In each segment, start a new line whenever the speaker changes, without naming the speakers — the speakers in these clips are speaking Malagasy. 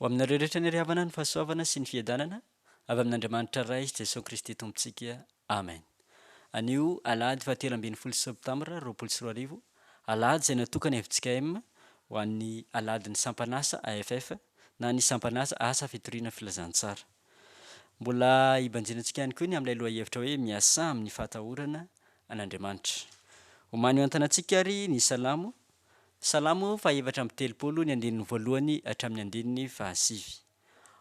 Ho aminareo rehetra ny hary havana, ny fahasoavana sy ny fiadanana avy amin'Andriamanitra Ray sy Jesosy Kristy Tompontsika. Amen. Anio Alahady fahatelo ambin'ny folo Septambra roapolo sy roa arivo, Alahady izay natokan'ny fjkm ho an'ny Alahadin'ny Sampan'asa, AFF, na ny Sampan'asa, Asa Fitoriana Filazantsara. Mbola hibanjinantsika ihany koa ny amin'ilay lohahevitra hoe Miasà amin'ny Fahatahorana an'Andriamanitra. Omany miontana antsika àry ny Salamo, Salamo fahaefatra amby telopolo, ny andininy voalohany hatramin'ny andininy fahasivy.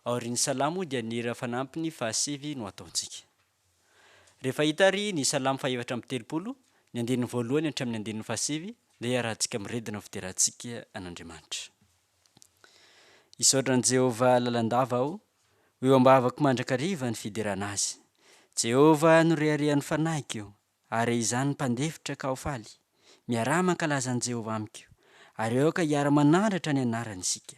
Aorian'ny Salamo dia ny hira fanampiny fahasivy no ataontsika. Rehefa hita àry ny Salamo fahaefatra amby telopolo, ny andininy voalohany hatramin'ny andininy fahasivy, dia iarahantsika miredona ny fiderantsika an'Andriamanitra. Hisaotra an'i Jehovah lalandava aho, ho eo am-bavako mandrakariva ny fiderana azy. Jehovah no reharehan'ny fanahiko, ary izany mpandefitra ka ho faly. Miaraha mankalaza an'i Jehovah amiko, ary aoka hiara-manandratra ny anarany isika.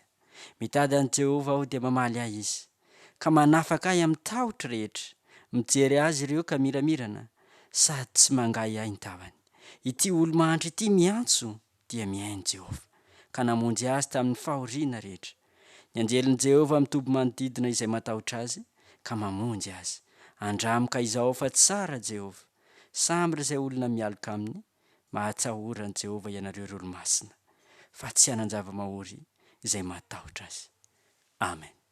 Mitady an'i Jehovah aho dia mamaly ahy izy, ka manafaka ahy amin'ny tahotro rehetra. Mijery azy ireo ka miramirana, sady tsy mangahiahy ny tavany. Ity olo-mahantra ity miantso dia mihaino Jehovah, ka namonjy azy tamin'ny fahoriana rehetra. Ny anjelin'i Jehovah mitoby manodidina izay matahotra azy, ka mamonjy azy. Andramo ka izao fa tsara Jehovah. Samy ry izay olona mialoka aminy, mahatsahora an'i Jehovah ianareo ry olo-masina, fa tsy hanan-java-mahory izay matahotra azy. Amen.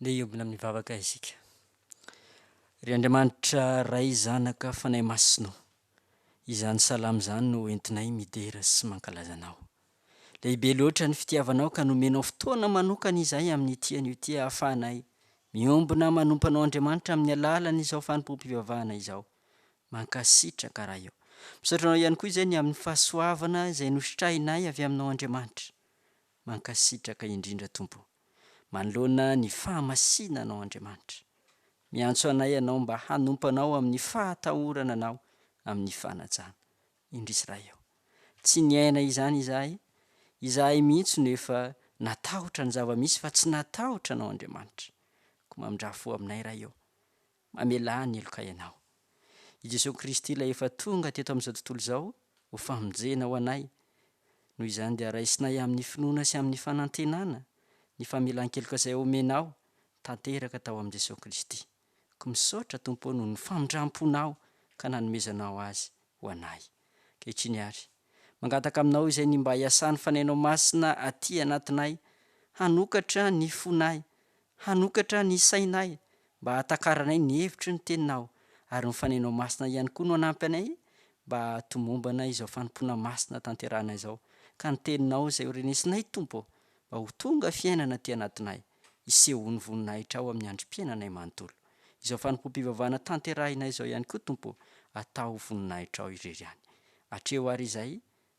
Ndeha hiombona amin'ny vavaka isika. Ry Andriamanitra Ray Zanaka Fanahy Masina ô, izany salamo izany no entinay midera sy mankalaza Anao. Lehibe loatra ny fitiavanao ka nomenao fotoana manokana izahay amin'ity anio ity ahafahanay miombona manompo Anao Andriamanitra amin'ny alalan'izao fanompoam-pivavahana izao. Mankasitraka Ray ô. Misaotra Anao ihany koa izay ny amin'ny fahasoavana izay nositrahinay avy Aminao Andriamanitra. Mankasitraka indrindra Tompo manoloana ny fahamasinanao Andriamanitra. Miantso anay Ianao mba hanompo Anao amin'ny fahatahorana Anao amin'ny fanajana. Indrisy Ray o. Tsy niaina izany izahay, izahay mihitsy no efa natahotra ny zava-misy fa tsy natahotra Anao Andriamanitra. Koa mamindrà fo aminay Ray o. Mamelà ny helokay ianao. I Jesoa Kristy ilay efa tonga teto amin'izao tontolo izao ho famonjena ho anay. Noho izany dia raisinay amin'ny finoana sy amin'ny fanantenana ny famelan-keloka izay omenao tanteraka tao amin'i Jesoa Kristy. Koa misaotra Tompo ô noho ny famindram-ponao ka nanomezanao Azy ho anay. Ankehitriny ary, mangataka aminao izay ny mba hiasan'ny Fanainao Masina aty anatinay, hanokatra ny fonay, hanokatra ny sainay, mba hahatakaranay ny hevitry ny Teninao, ary ny Fanainao Masina ihany koa no hanampy anay mba hahatomombana izao fanompoana masina tanterahana izao, ka ny Teninao izay ho renesinay, Tompo ô, mba ho tonga fiainana aty anatinay. Hisehon'ny voninahitrao amin'ny androm-piainanay manontolo. Izao fanompoam-pivavahana tanterahina izao ihany koa, Tompo ô, atao ho voninahitrao irery ihany. Atreho àry izay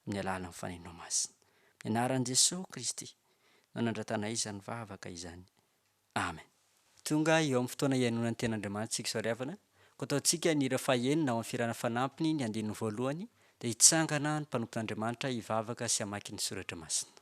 amin'ny alalan'ny Fanahinao Masina. Amin'ny Anaran'i Jesoa Kristy no nandratanay izany vavaka izany. Amen. Tonga eo amin'ny fotoana hihainoana ny Tenin'Andriamanitsika Isoariavana, koa ataontsika ny hira fahenina ao amin'ny Fihirana Fanampiny ny andininy voalohany, dia hitsangana ny mpanompon'Andriamanitra hivavaka sy hamaky ny Soratra Masina.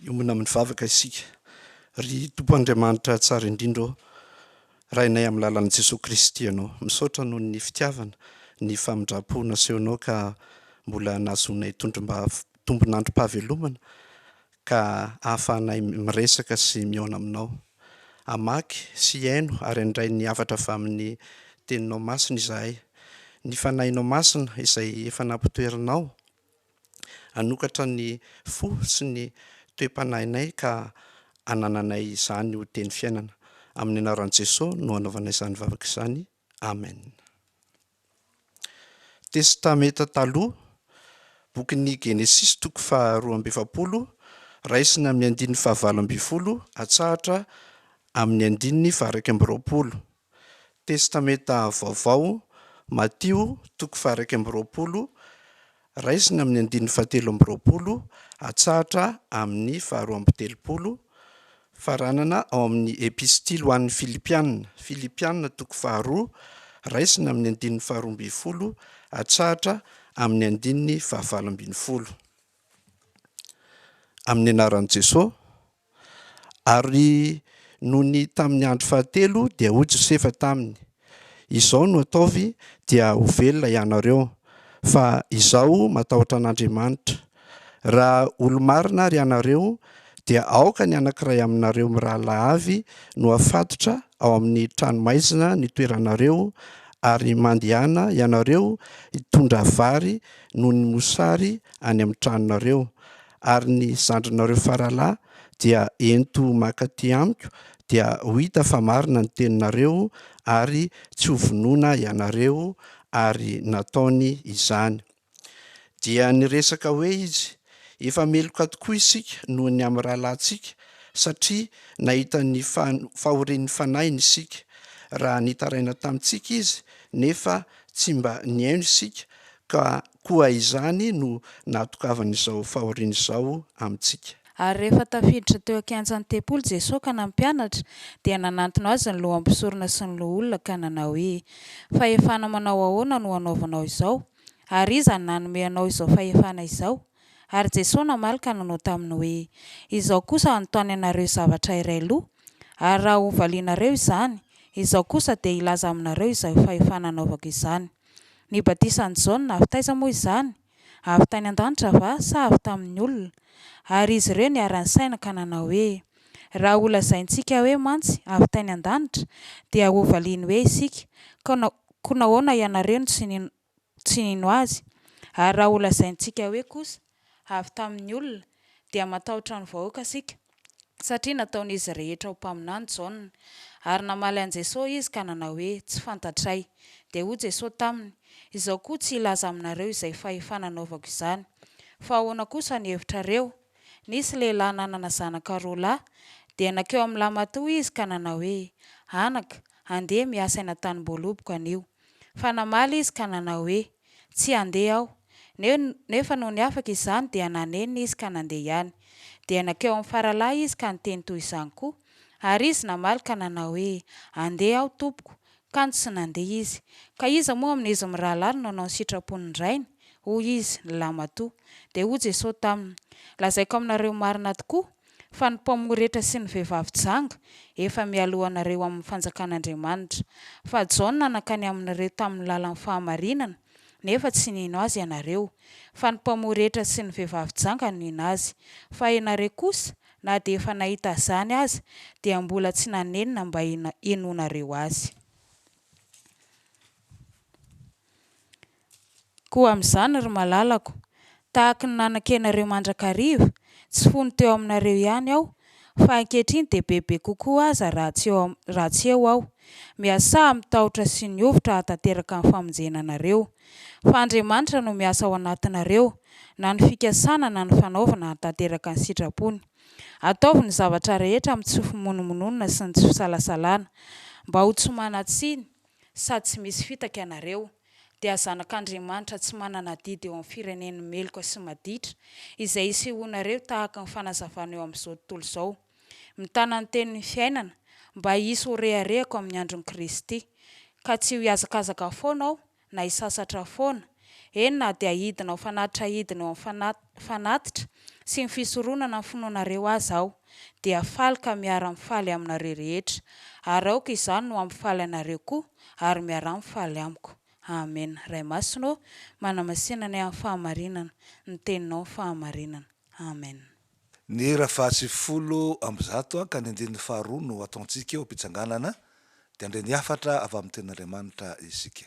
Hiombona amin'ny vavaka isika. Ry Tompo Andriamanitra tsara indrindra ô, Rainay amin'ny lalan'i Jesoa Kristy Ianao. Misaotra noho ny fitiavana, ny famindram-po nasehonao ka mbola nahazoanay tondrom-bava tombon'androm-pahavelomana ka ahafahanay miresaka sy mihaona aminao. Hamaky sy hihaino ary handray ny hafatra avy amin'ny Teninao masina izahay. Ny Fanahinao Masina izay efa nampitoerinao hanokatra ny fo sy ny toe-panahinay ka hanananay izany ho teny fiainana. Amin'ny anaran'i Jesoa no hanaovanay izany vavaka izany. Amen. Testamenta Taloha, Bokin'ny Genesisy toko faha roa amby efapolo, raisina amin'ny andininy faha valo ambin'ny folo atsahatra amin'ny andininy faha iraika amby roapolo. Testamenta Vaovao, Matio toko faha iraika amby roapolo, Raisina amin'ny andininy fahatelo amby roapolo hatsahatra amin'ny faharoa amby telopolo, faranana ao amin'ny Epistily ho an'ny Filipiana, Filipiana toko faharoa, raisina amin'ny andininy faharoa ambin'ny folo hatsahatra amin'ny andininy fahavalo ambin'ny folo. Amin'ny anaran'i Jesoa. Ary nony tamin'ny andro fahatelo dia hoy Josefa taminy, Izao no ataovy dia ho velona hianareo, fa izaho matahotra an'Andriamanitra. Raha olo-marina ary hianareo dia aoka ny anankiray aminareo mirahalahy avy no afatotra ao amin'ny tranomaizina nitoeranareo, ary mandehana hianareo hitondra vary noho ny mosary any amin'ny tranonareo, ary ny zandrinareo faralahy dia ento maka aty amiko dia ho hita fa marina ny teninareo ary tsy ho vonoina ianareo ary nataony izany. Dia niresaka hoe izy, efa meloka tokoa isika noho ny amin'ny rahalahintsika satria nahita ny fahorian'ny fanahiny isika, raha nitaraina tamintsika izy nefa tsy mba nihaino isika Ka koa izany no nahatokavan'izao fahoriana izao amintsika. Ary rehefa tafiditra
teo an-kianjan'ny tempoly Jesoa ka nampianatra, dia nanantona Azy ny loham-pisorona sy ny loholona ka nanao hoe, Fahefana manao ahoana no anaovanao izao? Ary iza no nanome anao izao fahefana izao? Ary Jesoa namaly ka nanao taminy hoe, Izao kosa hanontany anareo zavatra iray loha, ary raha hovalianareo izany, izao kosa dia hilaza aminareo izay fahefana anaovako izany. Ny batisan'i Jaona avy taiza moa izany? Avy tany an-danitra va, sa avy tamin'ny olona? Ary izy ireo niara-nisaina ka nanao hoe, Raha holazaintsika hoe, 'Mantsy, avy tany an-danitra', dia hovaliany hoe isika, 'Koa nahoana ianareo no tsy nino azy? Ary raha holazaintsika hoe kosa, avy tamin'ny olona, dia matahotra ny vahoaka isika, satria nataon'izy rehetra ho mpaminany Jaona. Ary namaly an'i Jesosy izy ka nanao hoe, Tsy fantatray. Dia hoy Jesosy taminy, Izaho koa tsy hilaza aminareo izay fahefana anaovako izany. Fa ahoana kosa ny hevitrareo? Nisy lehilahy nanana zanaka roa lahy, dia nankeo amin'ny lahimatoa izy ka nanao hoe, Anaka, andeha mihasaina tany am-boaloboka anio. Fa namaly izy ka nanao hoe, Tsy handeha aho. Neo, nefa nony afaka izany dia nanenina izy ka nandeha ihany. Dia nankeo amin'ny faralahy izy ka niteny toy izany koa. Ary izy namaly ka nanao hoe, Andeha aho, tompoko. Kanjo tsy nandeha izy. Ka iza moa amin'izy mirahalahy no nanao ny sitrapon'ny rainy? Hoy izy, Ny lahy matoa. Dia hoy Jesosy taminy, Lazaiko aminareo marina tokoa, fa ny mpamoretra sy ny vehivavy janga efa mialohanareo amin'ny fanjakan'Andriamanitra. Fa Jaona nankany aminareo tamin'ny lalan'ny fahamarinana, nefa tsy nino azy ianareo, fa ny mpamoretra sy ny vehivavy janga no nino azy. Fa ianareo kosa, na dia efa nahita azany aza, dia mbola tsy nanenina mba hinoanareo azy. Koa amin'izany, ry malalako, tahaka ny nananke anareo mandrakariva, tsy fony teo aminareo ihany aho, fa ankehitriny dia bebe kokoa aza raha tsy eo, raha tsy eo aho. Miasà amin'ny tahotra sy ny hovitra hahatanteraka ny famonjena anareo. Fa Andriamanitra no miasa ao anatinareo, na ny fikasana na ny fanaovana hahatanteraka ny sitrapony. Ataovy ny zavatra rehetra amin'ny tsy fimonomononana sy ny tsy fisalasalana, mba ho tsy manan-tsiny, sady tsy misy fitaka ianareo, dia zanak'Andriamanitra tsy manana adidy eo amin'ny firenen'ny meloka sy maditra, izay isehoanareo tahaka ny fanazavana eo amin'izao tontolo izao. Mitana ny Tenin'ny fiainana, mba hisy ho reharehako amin'ny andron'i Kristy, ka tsy ho hihazakazaka foana aho, na hisasatra foana, eny na dia hidina ho fanatitra hidina eo amin'ny fanatitra sy ny fisoronana ny finoanareo aza aho dia faly ka miara mifaly aminareo rehetra ary aoka izany no hampifaly anareo koa ary miaraha mifaly amiko Amena Ray Masina ô manamasina anay amin'ny fahamarinana ny teninao ny fahamarinana Amen. Ny hira
fahatsy folo amby zato ka ny andininy faharoa no ataontsika eo am-pitsanganana dia handre ny hafatra avy amin'ny tenin'Andriamanitra isika.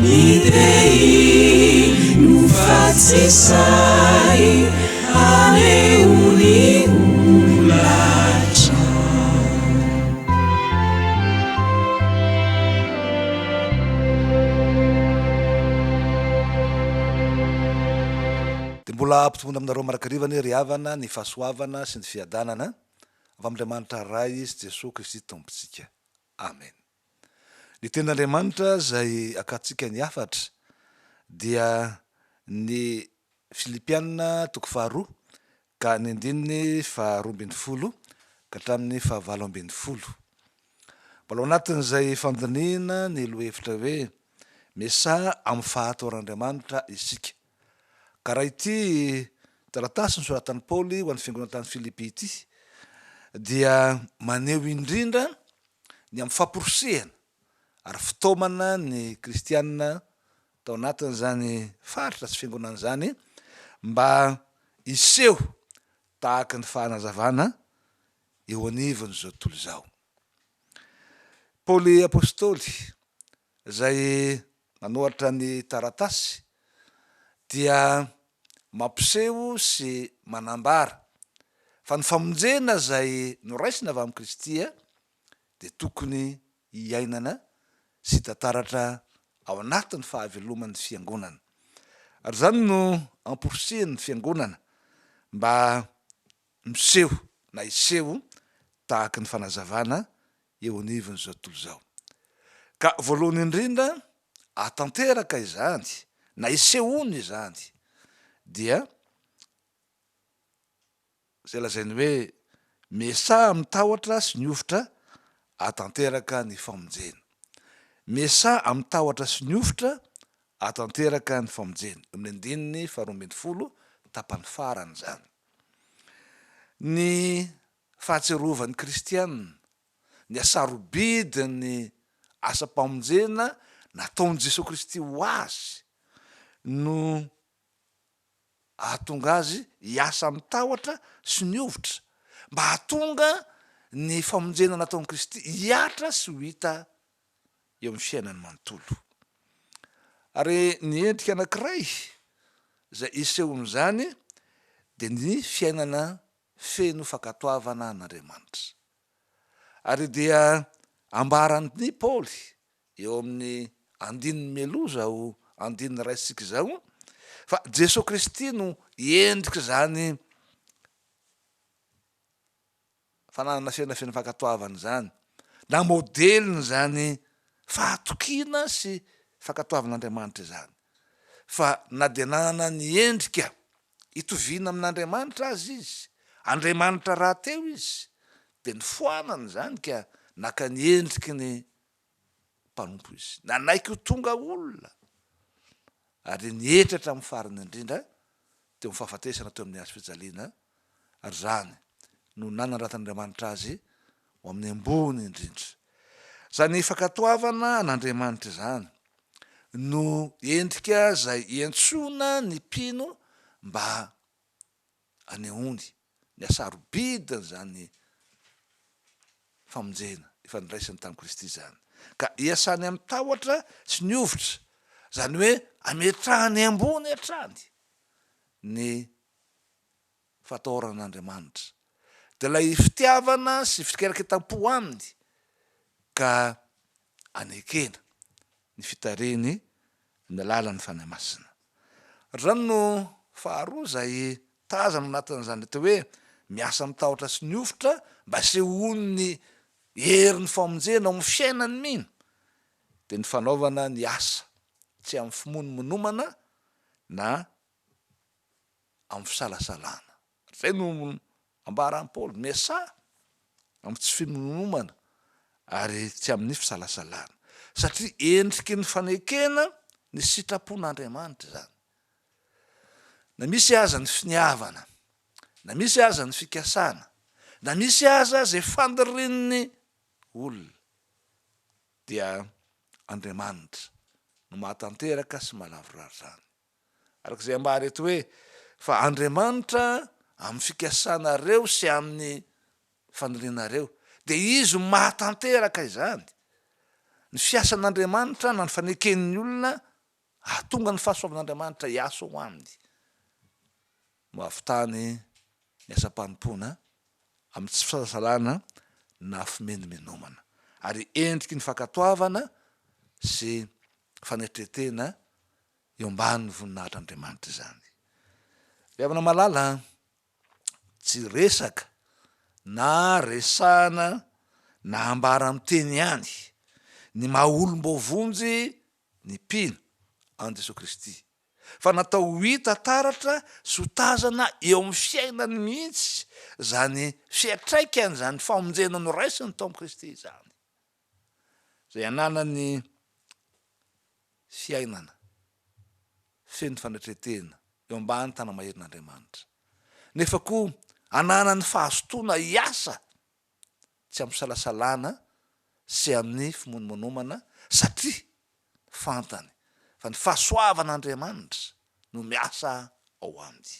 Ny tehiny no fa tsy sahy haneho ny holatra.
Dia mbola hampitomboina aminareo mandrakariva anie ry havana ny fahasoavana sy ny fiadanana avy amin'Andriamanitra Ray sy Jesoa Kristy Tompontsika. Amen. Ny Tenin'Andriamanitra izay akatsika ny hafatra dia ny Filipiana toko faharoa ka ny andininy faharoa ambin'ny folo ka hatramin'ny fahavalo ambin'ny folo. Mbola ao anatin'izay fandinihina ny lohahevitra hoe Miasaha amin'ny fahatoran'Andriamanitra isika. Ka raha ity taratasy nosoratan'i Paoly ho an'ny fiangonana tany Filipy ity dia maneho indrindra ny amin'ny famporisihana ary fitaomana ny kristiana tao anatin'izany faritra sy fiangonana izany mba hiseho tahaka ny fahanazavana eo anivon'izao tontolo izao. Paoly apostoly izay Nanoratra ny taratasy dia mampiseho sy manambara fa ny famonjena izay noraisina avy amin'i Kristy dia tokony hiainana sy hitantaratra ao anatin'ny fahaveloman'ny Fiangonana. Ary izany no amporisihin'ny Fiangonana mba miseho na hiseho tahaka ny fanazavana eo anivon'izao tontolo izao. Ka voalohany indrindra ahatanteraka izany na isehoana izany dia izay lazainy hoe miasaha amin'ny tahotra sy ny hovitra ahatanteraka ny famonjena. Miasaha amin'ny tahotra sy ny hovitra ahatanteraka ny famonjena. Eo amin'ny andininy faharoa ambin'ny folo tapany farany izany. Ny Fahatsiarovan'ny Kristiana, ny hasarobidin'ny asam-pamonjena nataon'i Jesoa Kristy ho azy no hahatonga azy hiasa amin'ny tahotra sy ny hovitra mba hahatonga ny famonjena nataon'i Kristy hihatra sy ho hita eo amin'ny fiainany manontolo. Ary ny endrika anankiray izay isehoan'izany dia ny fiainana feno fankatoavana an'Andriamanitra. Ary dia ambaran'i Paoly eo amin'ny andininy mialoha izao andininy raisintsika izao fa Jesoa Kristy no endrik'izany fananana fiainana feno fankatoavana izany, na modelin'izany fahatokiana sy fankatoavan'Andriamanitra izany. Fa na dia nanana ny endrika itoviana amin'Andriamanitra aza izy, andriamanitra rahateo izy, dia nifoanana izany ka naka ny endriky ny mpanompo izy. Nanaiky ho tonga olona, ary nihetra hatramin'ny farany indrindra teo amin'ny fahafatesana teo amin'ny hazo fijaliana, ary izany no nanandratan'Andriamanitra azy ho amin'ny ambony indrindra. Izany fankatoavana an'Andriamanitra izany no endrika izay iantsoana ny mpino mba anehoany ny hasarobidin'izany famonjena efa niraisany tamin'i Kristy izany, ka iasany amin'ny tahotra sy ny hovitra, izany hoe ametrahany ambony hatrany ny fatahoran'Andriamanitra, dia ilay fitiavana sy fikeraketam-po aminy ka. anekena ny fitarihiny amin'ny alalan'ny Fanahy Masina. Hatr'izany no faharoa izay tazana ao anatin'izany atao hoe miasa amin'ny tahotra sy ny hovitra mba hisehoany ny herin'ny famonjena ao amin'ny fiainan'ny mino dia ny fanaovana ny asa tsy amin'ny fimonomonomana na amin'ny fisalasalana. Izay no Ambaran'i Paoly, Miasà amin'ny tsy fimonomomana ary tsy amin'ny fisalasalana, satria endriky ny fanekena ny sitrapon'Andriamanitra izany. Na misy aza ny finiavana, na misy aza ny fikasana, na misy aza izay fandirian'ny olona, dia Andriamanitra no mahatanteraka sy mahalavorary izany. Araka izay ambara eto hoe, Fa Andriamanitra, amin'ny fikasanareo sy amin'ny fanirianareo, dia Izy mahatanteraka izany. Ny fiasan'Andriamanitra na ny faneken'ny olona hahatonga ny fahasoavan'Andriamanitra hiasa ho aminy no hahavitany ny asam-panompoana amin'ny tsy fisalasalana na fimenomenomana, ary endriky ny fankatoavana sy fanetren-tena eo ambanin'ny voninahitr'Andriamanitra izany. Ry havana malala an, tsy resaka na resahana na ambara amin'ny teny ihany ny maha olom-boavonjy ny mpino an'i Jesoa Kristy fa natao ho hita taratra sy ho tazana eo amin'ny fiainany mihitsy izany fiantraikany izany famonjena noraisiny tao amin'i Kristy izany. izay ananany fiainana feno fanetretena eo ambany tanamaherin'Andriamanitra, nefa koa ananany fahazotoana hiasa tsy am-pisalasalana sy amin'ny fimonomonomana, satria fantany fa ny fahasoavan'Andriamanitra no miasa ao aminy.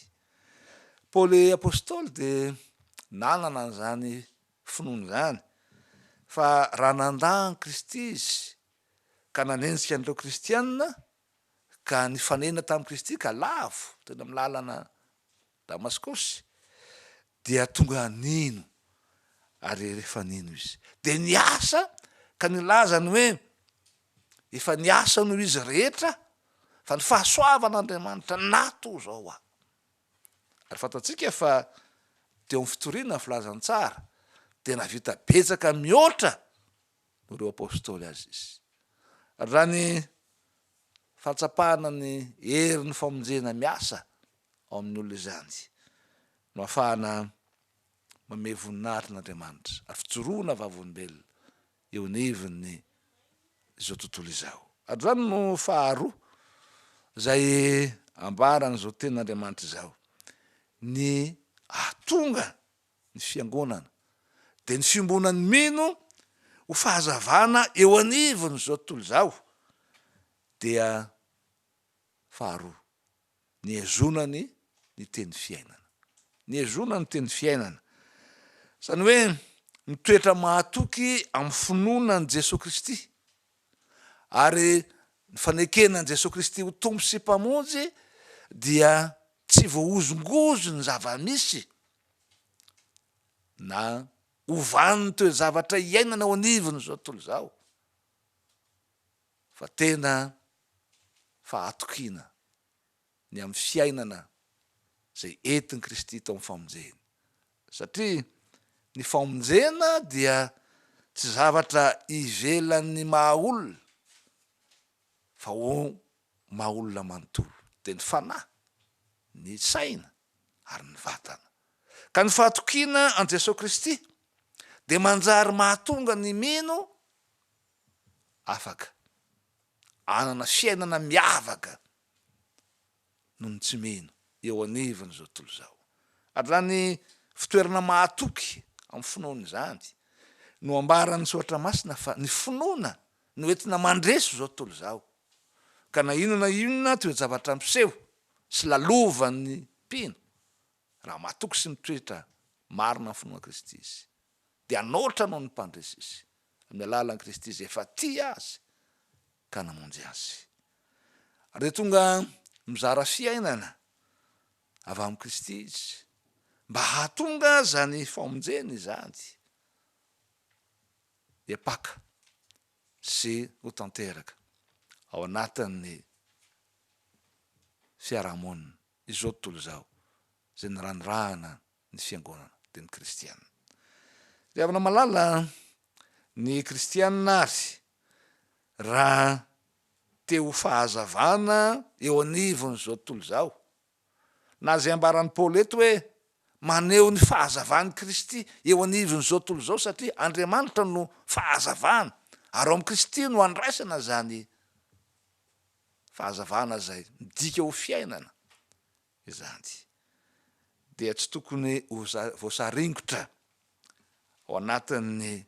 Paoly Apostoly dia nanana an'izany finoany izany, fa raha nandà an'i Kristy izy, ka nanenjika an'ireo kristiana, ka nifanena tamin'i Kristy ka lavo teny amin'ny lalana Damaskosy, dia tonga nino, ary rehefa nino izy, dia niasa ka nilaza ny hoe, Efa niasa noho izy rehetra, fa ny fahasoavan'Andriamanitra nato izao ho ahy. Ary fantatsika fa teo amin'ny fitoriana ny filazantsara dia nahavita betsaka mihoatra noho ireo apostoly azy izy. Raha ny fahatsapana ny herin'ny famonjena miasa ao amin'ny olona izany no ahafahana manome voninahitra an'Andriamanitra ary fijoroana vavolombelona eo anivon'ny izao tontolo izao. Androany no faharoa izay ambaran'izao Tenin'Andriamanitra izao ny hahatonga ny Fiangonana, dia ny fiombonan'ny mino ho fahazavana eo anivon'izao tontolo izao dia faharoa. nihazonany ny teny fiainana. Nihazonany ny teny fiainana. Izany hoe mitoetra mahatoky amin'ny finoana an'i Jesoa Kristy ary ny fanekena an'i Jesoa Kristy ho Tompo sy Mpamonjy dia tsy voahozongozo ny zava-misy na ovan'ny toe-javatra iainana ao anivon'izao tontolo izao. fa tena fahatokiana ny amin'ny fiainana izay entin'i Kristy tao amin'ny famonjeny, satria ny famonjena dia tsy zavatra ivelan'ny maha olona fa ho maha olona manontolo, dia ny fanahy, ny saina ary ny vatana, ka ny fahatokiana an'i Jesoa Kristy dia manjary mahatonga ny mino, afaka hanana fiainana miavaka noho ny tsy mino eo anivon'izao tontolo izao. Ary izany fitoerana mahatoky amin'ny finoana izany no ambaran'ny Soratra Masina fa ny finoana no entina mandresy izao tontolo izao, ka na inona na inona toe-javatra ampiseho sy lalovan'ny mpino, raha mahatoky sy mitoetra marina amin'ny finoana Kristy izy, dia hanaotra noho ny mpandresy izy, amin'ny alalan'i Kristy izay efa tia azy ka namonjy azy. Ary dia tonga mizara fiainana avy amin'i Kristy izy, mba hahatonga izany famonjena izany hiapaka sy ho tanteraka ao anatin'ny fiarahamonina izao tontolo izao, izay niranirahana ny fiangonana, dia ny kristiana. Tadiavina malala ny kristiana ary raha te ho fahazavana eo anivon'izao tontolo izao, na izay ambaran'i Paoly eto hoe maneho ny fahazavan'i Kristy eo anivon'izao tontolo izao satria Andriamanitra no fahazavana ary ao amin'i Kristy no andraisana izany fahazavana izay midika ho fiainana. izany dia tsy tokony ho voasaringotra ao anatin'ny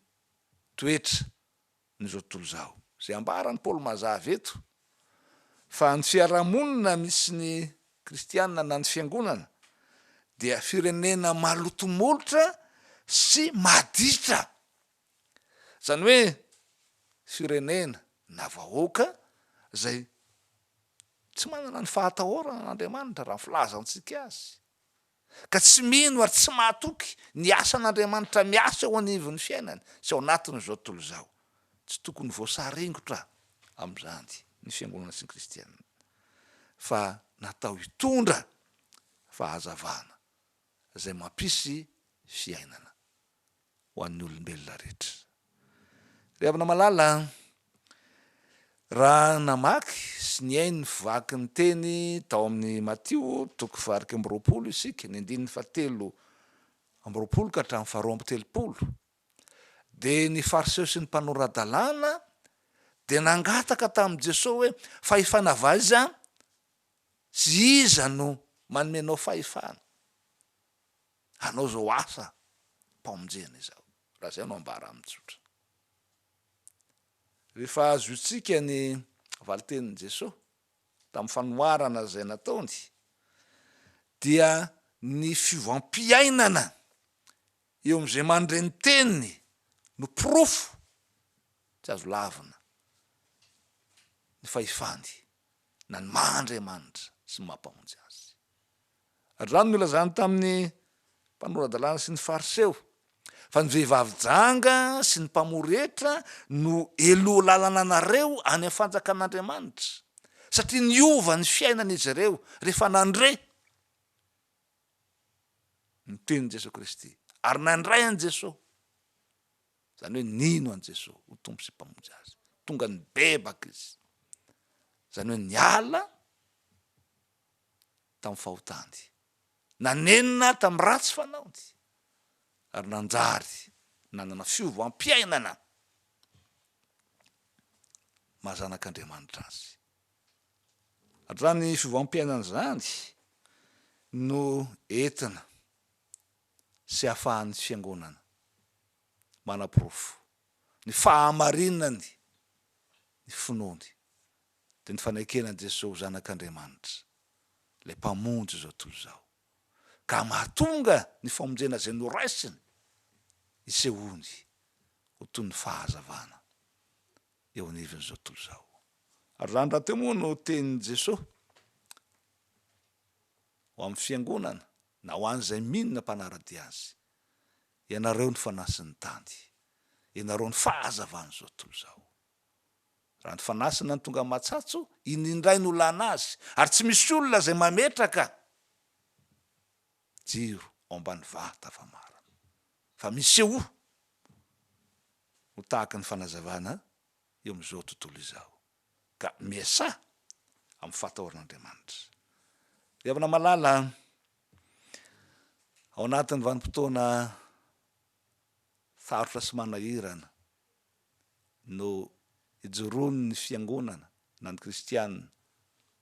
toetra n'izao tontolo izao. Izay ambaran'i Paoly mazava eto fa ny fiarahamonina misy ny kristiana na ny fiangonana dia firenena maloto molotra sy maditra Izany hoe firenena na vahoaka izay tsy manana ny fahatahorana an'Andriamanitra raha ny filazantsika azy, ka tsy mino ary tsy mahatoky ny asan'Andriamanitra miasa eo anivon'ny fiainany sy ao anatin'izao tontolo izao. Tsy tokony voasaringotra amin'izany ny fiangonana sy ny kristiana, fa natao hitondra fahazavana izay mampisy fiainana. ho an'ny olombelona rehetra. Ry havana malala a! Raha namaky sy nihaino ny vaky ny teny tao amin'ny Matio toko faha-iraika amby roapolo isika, ny andininy fahatelo amby roapolo ka hatramin'ny faharoa amby telopolo, dia ny Fariseo sy ny mpanora-dalàna dia nangataka tamin'i Jesoa hoe, Fahefana avy aiza sy iza no manome anao fahefana? hanao izao asa mpamonjena izao, raha izay no ambara amin'ny tsotra. Rehefa azontsika ny valin-tenin'i Jesoa tamin'ny fanoharana izay nataony, dia ny fiovam-piainana eo amin'izay mandre ny teniny no porofo tsy azo lavina ny fahefany na ny maha Andriamanitra sy ny maha Mpamonjy azy. Raha ny nolazany tamin'ny mpanora-dalàna sy ny Fariseo, fa ny vehivavy janga sy ny mpamory hetra no heloha lalana anareo any amin'ny fanjakan'Andriamanitra, satria niova ny fiainany izy ireo rehefa nandre ny tenin'i Jesoa Kristy ary nandray an'i Jesoa, izany hoe nino an'i Jesoa ho Tompo sy Mpamonjy azy. Tonga nibebaka izy, izany hoe niala. tamin'ny fahotany, nanenina tamin'ny ratsy fanaony, ary nanjary nanana fiovam-piainana maha zanak'Andriamanitra azy. Hatrany fiovam-piainana izany no entina sy ahafahan'ny Fiangonana manaporofo ny fahamarinany ny finoany dia ny fanekena an'i Jesoa ho Zanak'Andriamanitra, ilay Mpamonjy izao tontolo izao, ka mahatonga ny famonjena izay noraisiny hisehoany ho toy ny fahazavana eo anivon'izao tontolo izao. Ary izany rahateo moa no tenin'i Jesoa ho amin'ny Fiangonana na ho an'izay mino na mpanara-dia Azy, Ianareo ny fanahy sy ny tany, ianareo ny fahazavan'izao tontolo izao. Raha ny fanasana no tonga matsatso, iny indray no olana azy, ary tsy misy olona izay mametraka jiro ao ambany vata famarana. Fa misehoa ho tahaka ny fanazavana eo amin'izao tontolo izao. Ka miasaha amin'ny fahatahoran'Andriamanitra. Ry havana malala an! Ao anatin'ny vanim-potoana sarotra sy manahirana, no ijoroan'ny Fiangonana na ny kristiana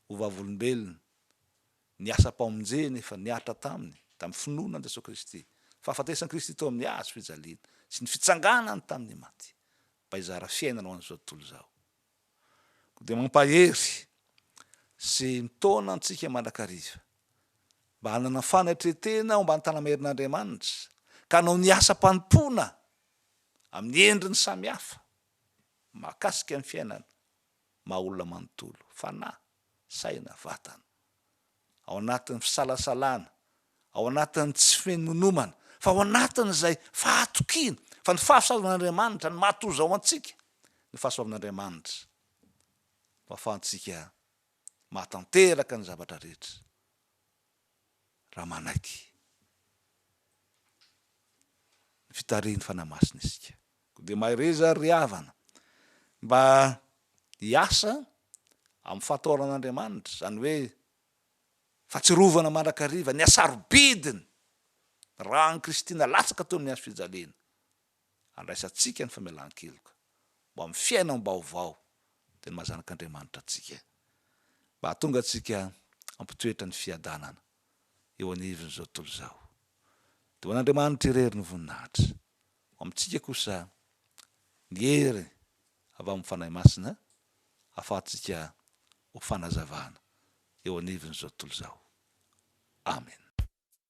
ho vavolombelony, ny asam-pamonjeny efa nihatra taminy tamin'ny finoana an'i Jesoa Kristy, fahafatesan'i Kristy teo amin'ny hazo fijaliana sy ny fitsanganany tamin'ny maty mba hizara fiainana ho an'izao tontolo izao. Koa dia mampahery sy mitaona antsika mandrakariva mba hanana fanatretena ao ambany tanam-herin'Andriamanitra ka hanao ny asam-panompoana amin'ny endriny samihafa, mahakasika ny fiainana maha olona manontolo, fanahy, saina, vatana. Ao anatin'ny fisalasalana, ao anatin'ny tsy finonomana, fa ao anatin'izay fahatokiana fa ny fahasoavan'Andriamanitra no maha-tojo ao antsika, ny fahasoavan'Andriamanitra no ahafahantsika mahatanteraka ny zavatra rehetra. raha manaiky ny fitarihin'ny Fanahy Masina isika. Koa dia mahereza ry havana mba hiasa amin'ny fahataoran'Andriamanitra, izany hoe fahatsiarovana mandrakariva ny hasarobidiny raha an'i Kristy nalatsaka teo amin'ny hazo fijaliana. handraisantsika ny famelan-keloka ho amin'ny fiainam-baovao dia ny maha zanak'Andriamanitra antsika, mba hahatonga antsika hampitoetra ny fiadanana eo anivon'izao tontolo izao. Dia ho an'Andriamanitra irery ny voninahitra. Ho amintsika kosa ny hery avy amin'ny Fanahy Masina ahafahantsika ho fanazavana eo anivon'izao tontolo izao. Amena.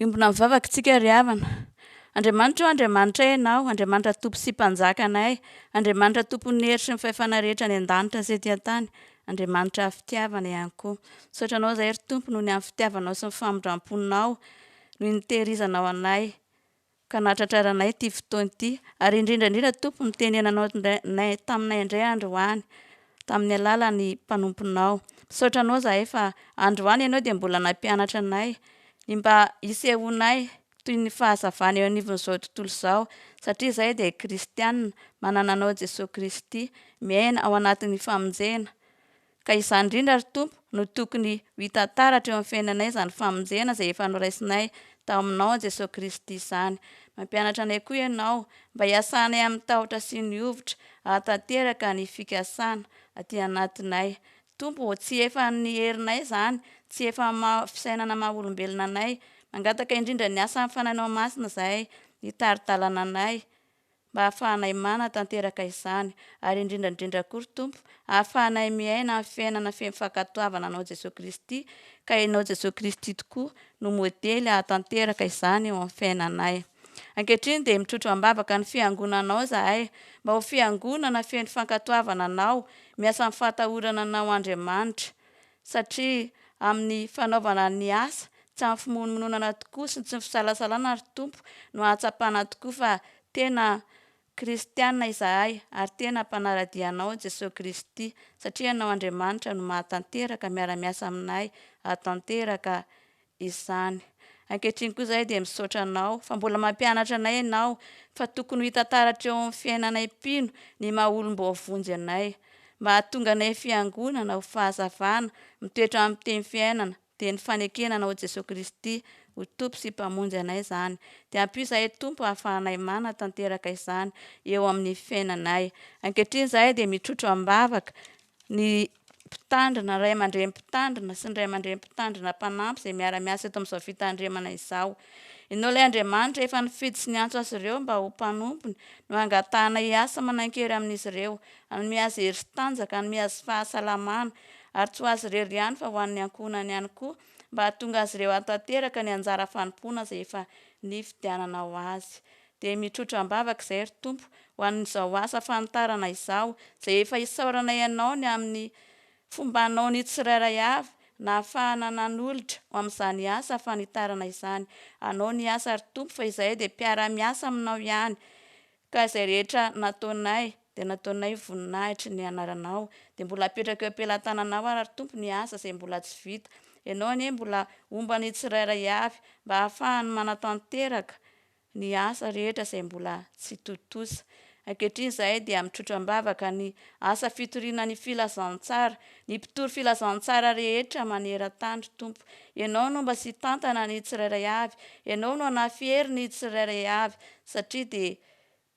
Hiombona amin'ny vavaka isika ry havana. Andriamanitra ô, Andriamanitray Ianao, Andriamanitra Tompo sy Mpanjakanay, Andriamanitra Tompon'ny hery sy ny fahefana rehetra any an-danitra sy ety an-tany, Andriamanitra fitiavana ihany koa. Misaotra Anao izahay ry Tompo noho ny amin'ny fitiavanao sy ny famindram-ponao. noho ny tehirizanao anay ka nahatratraranay ity fotoana ity ary indrindra indrindra Tompo ny tenenanao taminay indray androany tamin'ny alalan'ny mpanomponao misaotra anao zahay fa androany ianao dia mbola nampianatra anay ny mba hisehoanay toy ny fahazavana eo anivon'izao tontolo izao satria izahay dia kristianina manana anao Jesoa Kristy miaina ao anatin'ny famonjena Ka izany indrindra, ry Tompo, no tokony ho hita taratra eo amin'ny fiainanay, izany famonjena izay efa noraisinay tao Aminao, Jesoa Kristy, izany. Mampianatra anay koa Ianao, mba hiasanay amin'ny tahotra sy ny hovitra, hahatanteraka ny fikasana aty anatinay. Tompo ô, tsy efan'ny herinay izany, tsy efan'ny maha fisainana maha olombelona anay. Mangataka indrindra ny asan'ny Fanahinao Masina izay hitari-dalana anay. mba hahafahanay mana tanteraka izany, ary indrindra indrindra koa ry Tompo hahafahanay miaina ny fiainana feno fankatoavana anao Jesoa Kristy, ka Ianao Jesoa Kristy tokoa no modely hahatanteraka izany eo amin'ny fiainanay. Ankehitriny dia mitrotro am-bavaka ny Fiangonanao izahay, mba ho Fiangonana feno fankatoavana Anao, miasa amin'ny fahatahorana Anao Andriamanitra, satria amin'ny fanaovana ny asa tsy amin'ny fimonomononana tokoa sy tsy ny fisalasalana, ry Tompo, no ahatsapana tokoa fa tena Kristiana izahay ary tena mpanara-dia Anao, Jesoa Kristy, satria Ianao Andriamanitra no mahatanteraka miara-miasa aminay hahatanteraka izany. Ankehitriny koa izahay dia misaotra anao fa mbola mampianatra anay ianao fa tokony ho hita taratra eo amin'ny fiainanay mpino ny maha olom-boavonjy anay. Mba hahatonga anay fiangonana ho fahazavana mitoetra amin'ny teny fiainana dia ny fanekena anao Jesoa Kristy ho Tompo sy Mpamonjy anay izany. Dia ampio izahay Tompo hahafahanay manatanteraka izany eo amin'ny fiainanay. Ankehitriny izahay dia mitrotro am-bavaka ny. mpitandrina, ray aman-dreny mpitandrina sy ny ray aman-dreny mpitandrina mpanampy izay miara-miasa eto amin'izao fitandremana izao. Inona ilay Andriamanitra efa nifidy sy niantso azy ireo mba ho mpanompony no hangatahana hiasa manan-kery amin'izy ireo, hanome azy hery sy tanjaka, hanome azy fahasalamana, ary tsy ho azy irery ihany fa ho an'ny ankohonany ihany koa mba hahatonga azy ireo hahatanteraka ny anjara fanompoana izay efa nifidianana ho azy. Dia mitrotra am-bavaka izay ry Tompo ho an'izao asa fanitarana izao, izay efa hisaoranay Anao ny amin'ny fombanao ny tsirairay avy nahafahana nanolotra ho amin'izany asa fanitarana izany. Anao ny asa ry Tompo fa izahay dia mpiara-miasa aminao ihany, ka izay rehetra nataonay dia nataonay voninahitry ny Anaranao. Dia mbola apetraka eo am-pelan-tananao ary ry Tompo ny asa izay mbola tsy vita. Ianao anie mbola homba ny tsirairay avy mba hahafahany manatanteraka ny asa rehetra izay mbola tsy tontosa. Ankehitriny izahay dia mitrotra am-bavaka ny asa fitoriana ny filazantsara, ny mpitory filazantsara rehetra maneran-tany, Tompo. Ianao no mba sitantana ny tsirairay avy, Ianao no hanafihery ny tsirairay avy, satria dia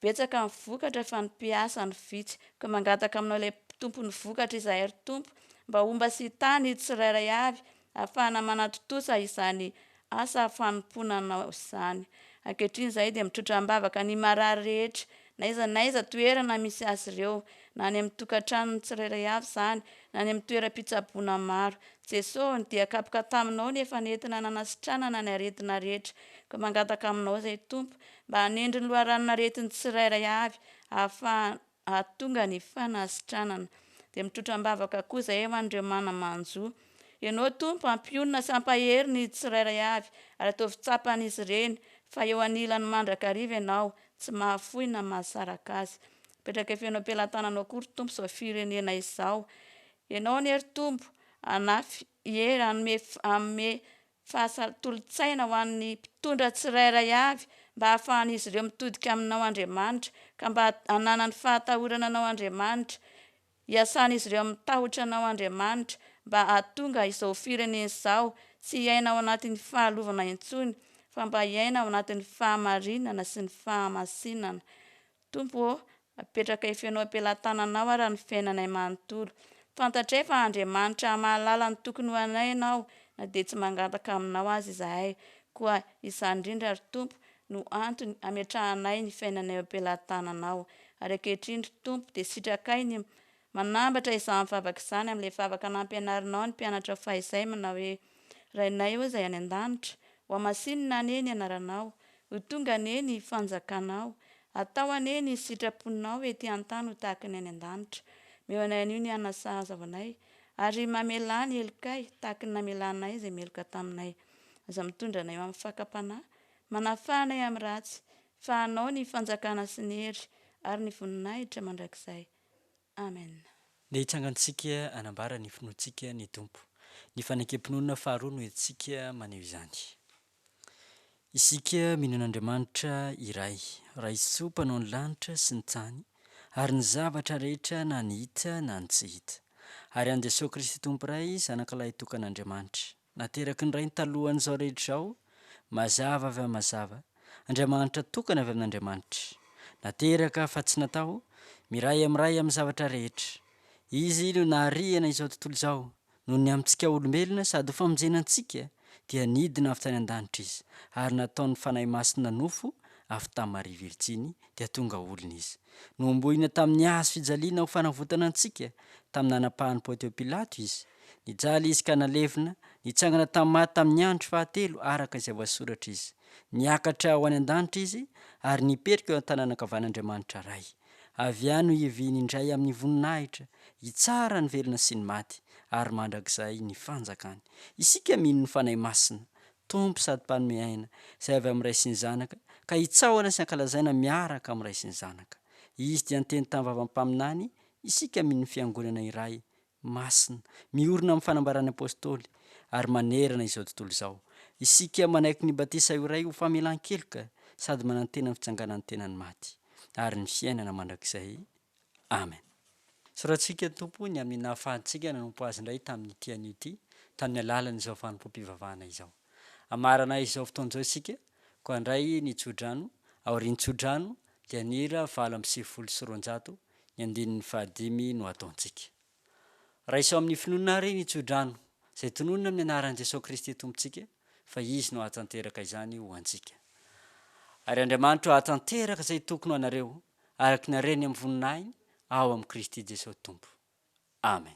Betsaka ny vokatra fa ny mpiasa no vitsy, koa mangataka aminao ilay tompon'ny vokatra izahay ry Tompo mba homba sy hitana io tsirairay avy hahafahana manatontosa izany asa fanompoana Anao izany. Ankehitriny izahay dia mitrotra am-bavaka ny marary rehetra, na aiza na aiza toerana misy azy ireo, na any amin'ny tokantranon'ny tsirairay avy izany, na any amin'ny toeram-pitsaboana maro. Jesoa ô, dia kapoka Taminao ny efa nentina nanasitranana ny aretina rehetra, koa mangataka Aminao izay Tompo, mba hanendry ny loharanon'aretin'ny tsirairay avy hahafahana hahatonga ny fanasitranana. Dia mitrotra am-bavaka koa izahay ho an'ireo mana-manjo. Ianao Tompo hampionona sy hampahery ny tsirairay avy, ary ataovy tsapan'izy ireny fa eo anilany mandrakariva Ianao, tsy mahafoy na mahasaraka azy. Apetraka feno am-pelatananao koa ry Tompo izao firenena izao. Ianao anie ry Tompo hanafy hery hanome hanome Fahasahy tolo-tsaina ho an'ny mpitondra tsirairay avy mba hahafahan'izy ireo mitodika aminao Andriamanitra ka mba hananany fahatahorana anao Andriamanitra, iasan'izy ireo amin'ny tahotra anao Andriamanitra mba hahatonga izao firenena izao tsy hiaina ao anatin'ny fahalovana intsony fa mba hiaina ao anatin'ny fahamarinana sy ny fahamasinana. Tompo ô, apetraka eo feno am-pelantananao ara ny fiainanay manontolo. Fantatray fa Andriamanitra mahalala ny tokony ho anay Ianao na dia tsy mangataka Aminao aza izahay. Koa izany indrindra ry Tompo no antony ametrahanay ny fiainanay eo am-pelantananao. Ary ankehitriny ry Tompo dia sitrakay ny Manambatra izany vavaka izany amin'ilay vavaka nampianarinao ny mpianatra faha izay manao hoe, Rainay ô Izay any an-danitra, hohamasinina anie ny anaranao, ho tonga anie ny fanjakanao, atao anie ny sitraponao ety an-tany ho tahaka ny any an-danitra. Meo anay anio ny hanina sahaza ho anay, ary mamelà ny helokay tahaka ny namelanay izay meloka taminay. Aza mitondra anay ho amin'ny fakam-panahy, manafaha anay amin'ny ratsy, fa anao ny fanjakana sy ny hery ary ny voninahitra mandrakizay. Amen. Ny
hitsangantsika hanambara ny finoantsika ny Tompo. Ny fanekem-pinoana faharoa no entintsika maneho izany. Isika mino an'Andriamanitra iray, Raisoa mpanao ny lanitra sy ny tany ary ny zavatra rehetra na ny hita na ny tsy hita. Ary an'i Jesoa Kristy Tompo Ray, Zanakalahy tokan'Andriamanitra. Nateraky ny Rainy talohan'izao rehetra izao, mazava avy amin'ny mazava, Andriamanitra tokana avy amin'Andriamanitra. Nateraka fa tsy natao, miray amin'ny Ray amin'ny zavatra rehetra. Izy no naharihana izao tontolo izao, noho ny amintsika olombelona sady ho famonjena antsika dia nidina avy tany an-danitra Izy ary nataon'ny Fanahy Masina nofo avy tamin'i Maria Virjiny, dia tonga olona izy. Nohombohina tamin'ny hazo fijaliana ho fanavotana antsika, tamin'ny nanapahan'i Pontio Pilato izy. Nijaly izy ka nalevina, nitsangana tamin'ny maty tamin'ny andro fahatelo araka izay voasoratra izy. Niakatra ho any an-danitra izy ary nipetraka eo an-tanana ankavan'Andriamanitra Ray. Avy any no hiaviany indray amin'ny voninahitra, hitsara ny velona sy ny maty, ary mandrakizay ny fanjakany. Isika mino ny Fanahy Masina, Tompo sady Mpanome aina, izay avy amin'ny Ray sy ny Zanaka, ka hitsaohana sy hankalazaina miaraka amin'ny Ray sy ny Zanaka. Izy dia niteny tamin'ny vavan'ny mpaminany, Isika mino ny Fiangonana iray, masina, miorina amin'ny fanambaran'ny Apôstôly, ary manerana izao tontolo izao. Isika manaiky ny batisa ho iray ho famelan-keloka sady manantena ny fitsanganan'ny tenan'ny maty, ary ny fiainana mandrakizay. Amen. Soratsika Tompo ny amin'ny nahafahantsika nanompo Azy indray tamin'ity anio ity, tamin'ny alalan'izao fanompoam-pivavahana izao. Hamaranay izao fotoana izao isika, koa handray ny tsodrano, aorian'ny tsodrano dia ny hira valo amby sivifolo sy roanjato, ny andininy fahadimy no hataontsika. Raiso amin'ny finoana àry ny tsodrano izay tononina amin'ny anaran'i Jesoa Kristy Tompontsika fa Izy no hahatanteraka izany ho antsika. Ary Andriamanitro hahatanteraka izay tokony ho anareo araka ny hareny amin'ny voninahiny ao amin'i Kristy Jesoa Tompo. Amen.